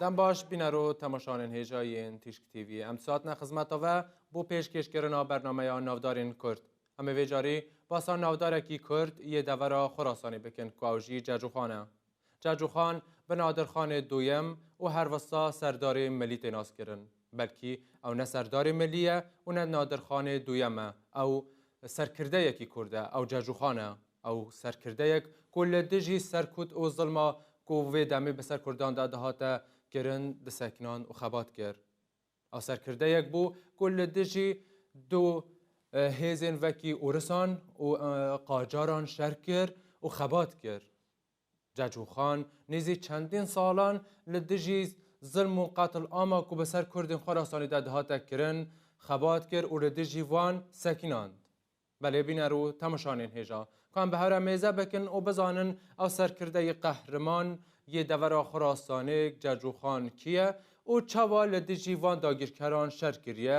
Dem baş bînero temaşanên hêja yên Tîşk TV. Em saatine xizmeta ve bo pêşkêşkirina bernameya navdarên Kurd. Em ê vê carî basa navdarekî Kurd yê devera Xurasanê bikin ku ew jî Cercûxan e. Çerçûxan bi Nadirxanê Duyem û her wisa Serdarê Milî tê naskirin. Belkî ew ne Serdarê Milî ye û ne Nadirxanê Duyem e. Ew serkirdeyekî kurd e. Ew Çerçûxan e. Ew serkirdeyek ku li dijî serkut û zilma ku vê demê bi ser kurdan de dihate kirin disekinan û xebat kir. Ew serkirdeyek bû ku li dijî du hêzên vekî ûrisan û qacaran şer kir û xebat kir. Cacûxan nêzî çendîn salan li dijî zilm û qetilama ku bi ser Kurdên Xurasanê de dihate kirin, xebat kir û li dijî wan sekînand. Belê bîner û temişanên hêja ku em bi hev re mêze bikin û bizanin ew serkirdeyê qehriman yê devera Xurasanê Cacûxan kî ye û çawa li dijî van dagîrkeran şer kiriye,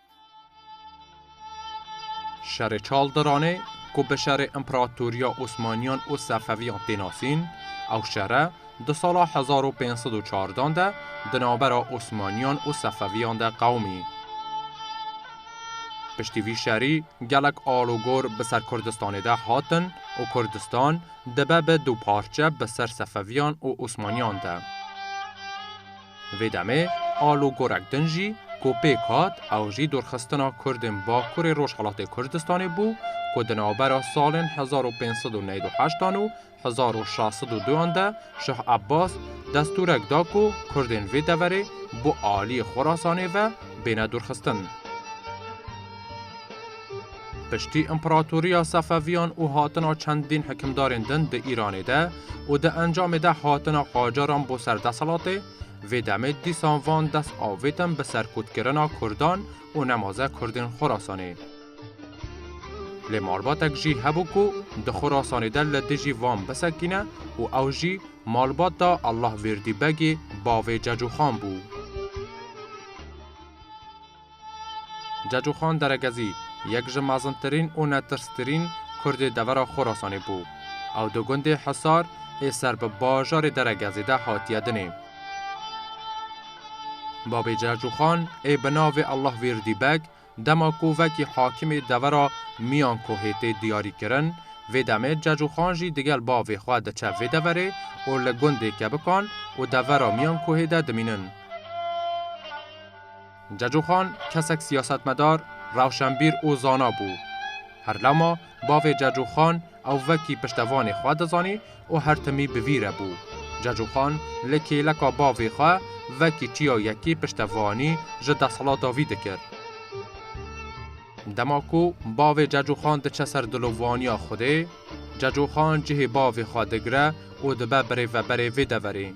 Şerê Çal Diranê ku bi şerê împeratoriya Osmaniyan û Sefeviyan tê nasîn, ew şere di sala hezar û pênc sed û çardan de di navbera Osmaniyan û Sefeviyan de qewimî. Piştî vî şerî gelek alûgor bi ser Kurdistanê de hatin û Kurdistan dibe bi du parçe bi ser Sefeviyan û Osmaniyan de. Vê demê alûgorek din jî ku pêk hat ew jî dorxistina Kurdên Bakurê Rojhilatê Kurdistanê bû ku di navbera salên hezar û pênc sed û neyw û heşt an û hezar û şeş sed û du an de Şah Abbas destûrek da ku Kurdên vê deverê bi aliyê Xorasanê ve bêne dorxistin. Piştî împeratoriya Sefeviyan û hatina çendîn hikimdarên din di Îranê de û di encamê de hatina qacaran bo ser deselatê, vê demê dîsan van dest avêtin bi serkutkirina kurdan û nemaze kurdên Xorasanê. Lê malbatek jî hebû ku di Xorasanê de li dijî van bisekîne û ew jî malbata Allahvêrdî Begê bavê Cecûxan bû. Cecoxan Deregezî yek ji mezintirîn û netirstirîn Kurdê devera Xorasanê bû. Ew di gundê Hisar ê ser bi bajarê Deregezê de hatiye dinê. Bavê Cecoxan ê bi navê Allahvîrdî Beg dema ku vekî hakimê devera Miyankohê tê diyarîkirin, vê demê Cecoxan jî digel bavê xwe diçe vê deverê û li gundê Kebikan û devera Miyankohê de dimînin. Ceco Xan kesek siyasetmedar, rewşenbîr û zana bû. Her lama bavê Ceco Xan ew vekî piştevanê xwe dizanî û her timî bi vî re bû. Ceco Xan li kêleka bavê xwe vekî çiya yekî piştevanî ji desthilata vî dikir. Dema ku bavê Cecoxan diçe ser dilovaniya Xwedê, Cecoxan cihê bavê xwe digire û dibe birêveberê vê deverê.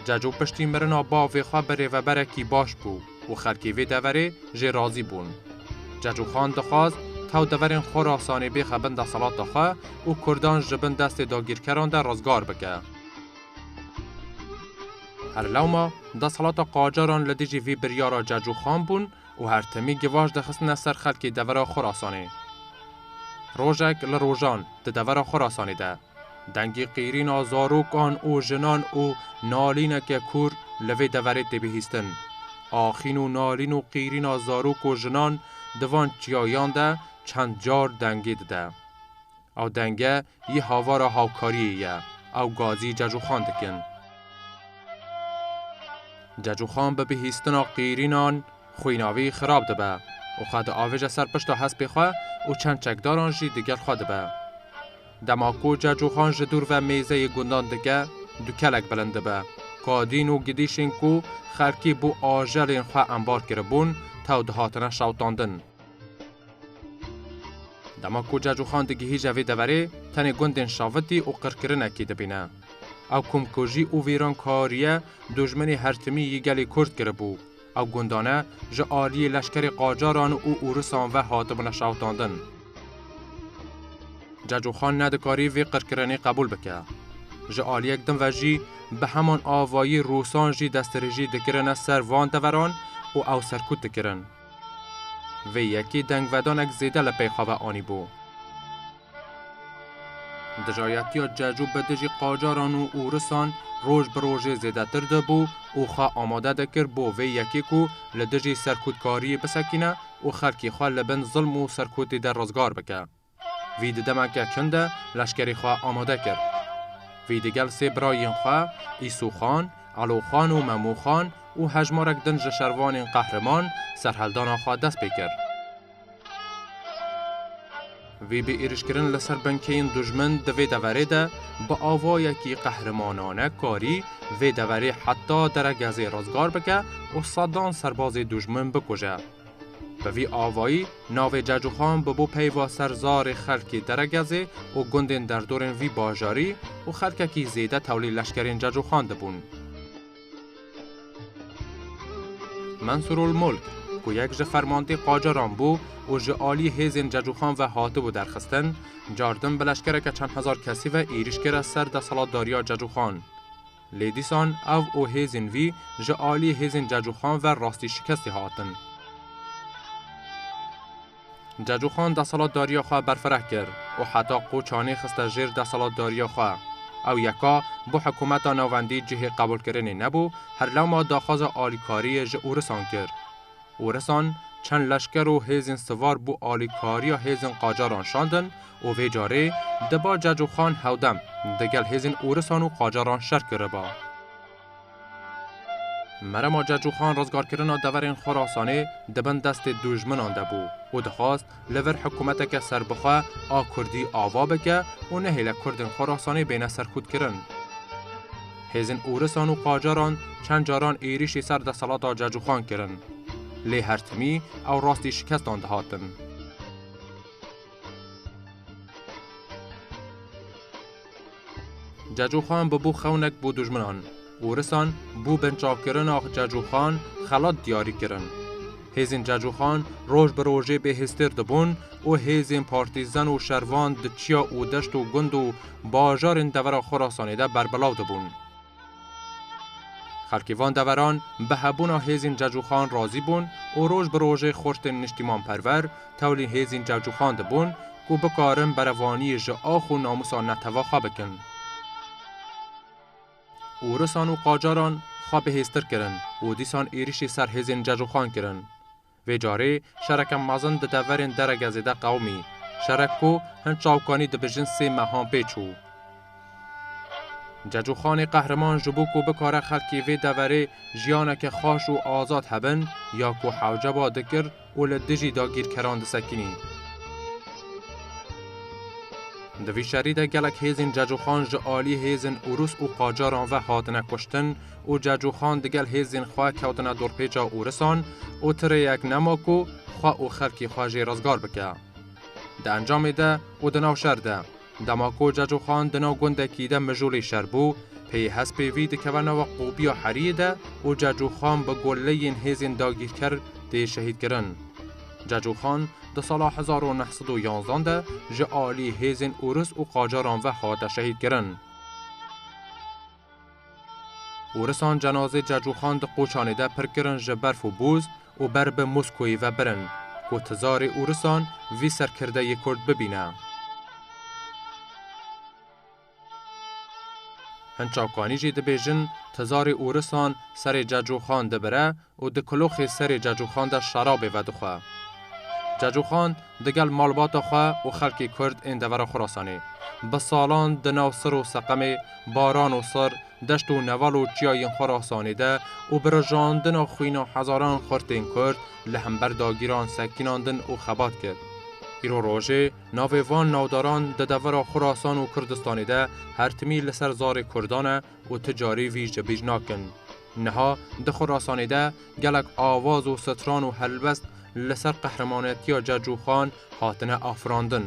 Ceco piştî mirina bavê xwe birêveberekî baş bû û xelkê vê deverê jê razî bûn. Cecoxan dixwast tew deverên Xorasanê bêxe bin deselata xwe û kurdan ji bin destê dagîrkeran de rizgar bike. Her lewma deselata qacaran li dijî vî biryara Cecoxan bûn, û her timî givaş dixistine ser xelkê devera Xurasanê. Rojek li rojan di devera Xurasanê de dengê qîrîna zarokan û jinan û nalîneke kûr li vê deverê tê bihîstin. Axîn û nalîn û qîrîna zarok û jinan di van çiyayan de çend car dengê dide. Ew denge Yî havara hawkariyê ye. Ew gazî Cecoxan dikin. Cecoxan bi bihîstina qîrînan xwînavî xirab dibe û xwe diavêje ser pişta hespê xwe û çend çekdaran jî digel xwe dibe. Dema ku Cecoxan ji dûr ve mêzeyê gundan dike, du kelek bilind dibe. Kadîn û gidîşên ku xelkî bo ajelên xwe embar kiribûn, tew dihatine şewitandin. Dema ku Cacûxan digihîje vê deverê, tenê gundên şavitî û qirkirinekî dibîne. Ew komkujî û vîran kariye dojmenê hertimî yê gelê Kurd kiribû. Ew gundane ji aliyê leşkerê qacaran û ûrisan ve hatibûne şawitandin. Cacûxan nedikarî vê qirkirinê qebûl bike. Ji aliyek din ve jî bi heman avayî rûsan jî destdirêjî dikirine ser van deveran û ew serkût dikirin. Vê yekî dengvedanek zêde li pêxa ve anîbû. Dijayetiya Cecû bi dijî qacaran û ûrisan roj bi rojê zêdetir dibû û xwe amade dikir bo vê yekê ku li dijî serkûtkariyê bisekîne û xelkê xwe li bin zilm û serkûtî de rizgar bike. Vî di demeke çin de leşkerê xwe amade kir. Vî di gel sê birayên xwe Îsûxan, Eloxan û Memoxan û hejmarek din ji şervanên qehriman serheldana xwe dest pê kir. Vî bi êrîşkirin li ser binkeyên dujmin di vê deverê de bi avayekî qehrimanane karî vê deverê heta deregezê rizgar bike û sedan serbazê dujmin bikuje. Bi vî avayî navê Cecuxan bi bo peyva ser zarê xelkê Deregezê û gundên derdorên vî bajarî û xelkekî zêde tewlî leşkerên Cecuxan dibûn. Mensurulmulk ku yek ji fermandê qacaran bû û ji aliyê hêzên Cecuxan ve hatibû derxistin, cardin bi leşkereke çend hezar kesî ve êrîş kir ser deselatdariya Cecuxan. Lê dîsan ev û hêzên vî ji aliyê hêzên Cecoxan ve rastî şikestî hatin. Cecoxan deselatdariya xwe berfireh kir û heta qoçanê xiste jêr deselatdariya xwe. Ew yeka bo hikumeta navendî cihê qebûlkirinê nebû, herlama daxwaza alîkariyê ji ûrisan kir. û risan çend leşker û hêzên sivar bo alîkariya hêzên qacaran şandin û vê carê diba Ceco Xan hewdem di gel hêzên ûrisan û qacaran şer kiriba. Merema Ceco Xan rizgarkirina deverên Xurasanê di bin destê dûjminan de bû û dixwast Li vir hikûmeteke serbixwe a Kurdî ava bike û nehêle Kurdên Xurasanê bêne serxûtkirin. Hêzên Ûrisan û Qacaran çend caran êrîşî ser deselata Celcûxan kirin. Lê her timî ew rastî şikestan dihatin. Cecoxan bûbû xewnek bo dûjminan û risan bû binçavkirina Cecoxan xelat diyarî kirin. Hêzên Cecoxan roj bi rojê bêhêztir dibûn û hêzên partîzan û şervan di çiya û deşt û gund û bajarên devera Xorasanê de berbilav dibûn. Xelkê van deveran bi hebûna hêzên cecûxan razî bûn û roj bi rojê xortên niştîmanperver tewlî hêzên cecûxan dibûn ku bikarin berevaniyê ji ax û namûsa netewê xwe bikin. Ûrisan û qacaran xwe bihêztir kirin û dîsan êrîşê ser hêzên cecûxan kirin. Vê carê şereke mezin di deverên Deregezê de qewimî. Şerek ku hin çawkanî dibijin sê mehan pê çû. Cecûxanê Qehriman ji bo ku bikare xelkê vê deverê jiyaneke xweş û azad hebin ya ku hewceba dikir û li dijî dagîrkeran disekinî. Di vî şerî de gelek hêzên Cecûxan ji aliyê hêzên Ûrûs û Qacaran ve hatine kuştin û Cacoxan digel hêzên xwe kewtine dorpêça Ûrisan û ti rêyek nema ku xwe û xelkê xwe jê rizgar bike. Di encamê de û di nav şer de, dema ku Cacoxan di nav gundekî de mijûlê şer bû, peyê hespê vî dikeve nava qobiya heriyê de û Cacoxan bi goleyên hêzên dagîrker tê şehîdkirin. Cacoxan di sala hezar û neh sed û yanzdan de ji aliyê hêzên Ûris û Qacaran ve hate şehîdkirin. Ûrisan cenazê Cecûxan di qoçanê de pir kirin ji berf û bûz û ber bi Moskoyê ve birin ku tizarê ûrisan vî serkirde yê Kurd bibîne. Hin çavkanî jî dibêjin tizarê ûrisan serê Cecûxan dibire û di kuloxê serê Cacûxan de şarabê vedixwe. Cacûxan digel malbata xwe û xelkê Kurd ên devera Xurasanê bi salan di nav sir û seqemê, baran û sir, deşt û neval û çiya yên Xurasanê de û bi rijandina xwîna hezaran xurtên Kurd li hember dagîran sekînandin û xebat kir. Îro rojê navê van navdaran di devera Xurasan û Kurdistanê de her timî li ser zarê Kurdan e, Û ti carî vî ji bîr nakin. Niha di xurasanê de gelek awaz û stran û helbest li ser qehremanetiya Cec û Xan hatine afirandin.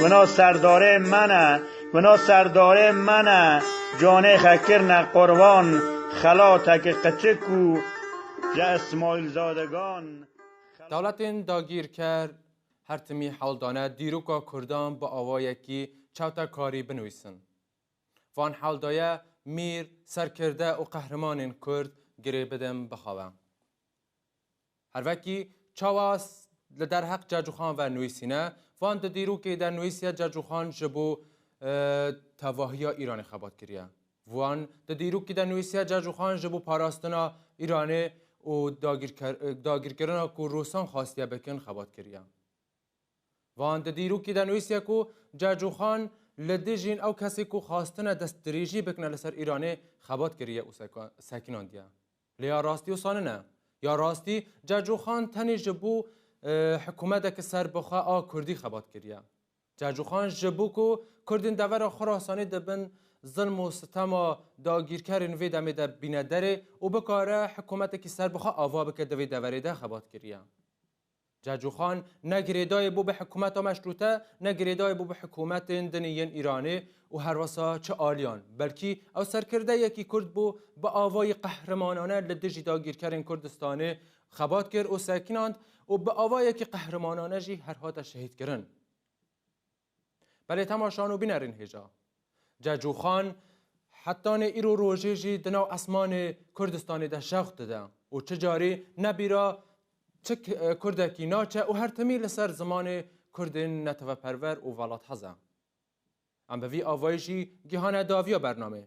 Wina serdarê min e, wina serdarê min e, canê xe kirine qurban, xelateke qiçik û ji Ismaîlzadegan. Dewletên dagîrker her timî hewl dane dîroka kurdan bi awayekî çewtekarî binivîsin. Van hewl daye mîr, serkirde û qehrimanên kurd girê bidin bixewe. Her vekî çawa li derheq Cacûxan ve nûîsîne, van di dîrokê de nûîsiye Cacûxan ji bo tevahiya Îranê xebat kiriye. Van di dîrokî de nûîsiye Cacûxan ji bo parastina Îranê û dagirkirina ku Rûsan xastiye bikin xebat kiriye. Van di dîrokî de nûîsiye ku Cacûxan li dijîn ew kesê ku xastine destdirêjî bikine li ser Îranê xebat kiriye û sekinandiye. Lê ya rastî wisa nine. Ya rastî Celcûxan tenê ji bo hikûmeteke serbixwe a Kurdî xebat kiriye. Celcûxan ji bo ku Kurdên devera Xurasanê di bin zilm û sitema dagîrkerên vê demê de bîne derê û bikare hikûmetekî serbixwe ava bike di vê deverê de xebat kiriye. Cacûxan ne girêdayî bû bi hikûmeta meşrûte, ne girêdayî bû bi hikûmetên dinî yên Îranê û herwisa çi aliyan, belkî ew serkirdeyekî Kurd bû, bi avayî qehrimanane li dijî dagîrkerên Kurdistanê xebat kir û sekinand û bi avayekî qehrimanane jî her hate şehîdkirin. Belê temaşan û binerîn hêja. Cecûxan hetanê îro rojê jî di nav esmanê Kurdistanê de şewq dide û çi carî ne bîra çi Kurdekî naçe û her timî li ser zimanê Kurdên neteweperwer û welathez e. Em bi vî avayî jî gihane daviya bernameyê.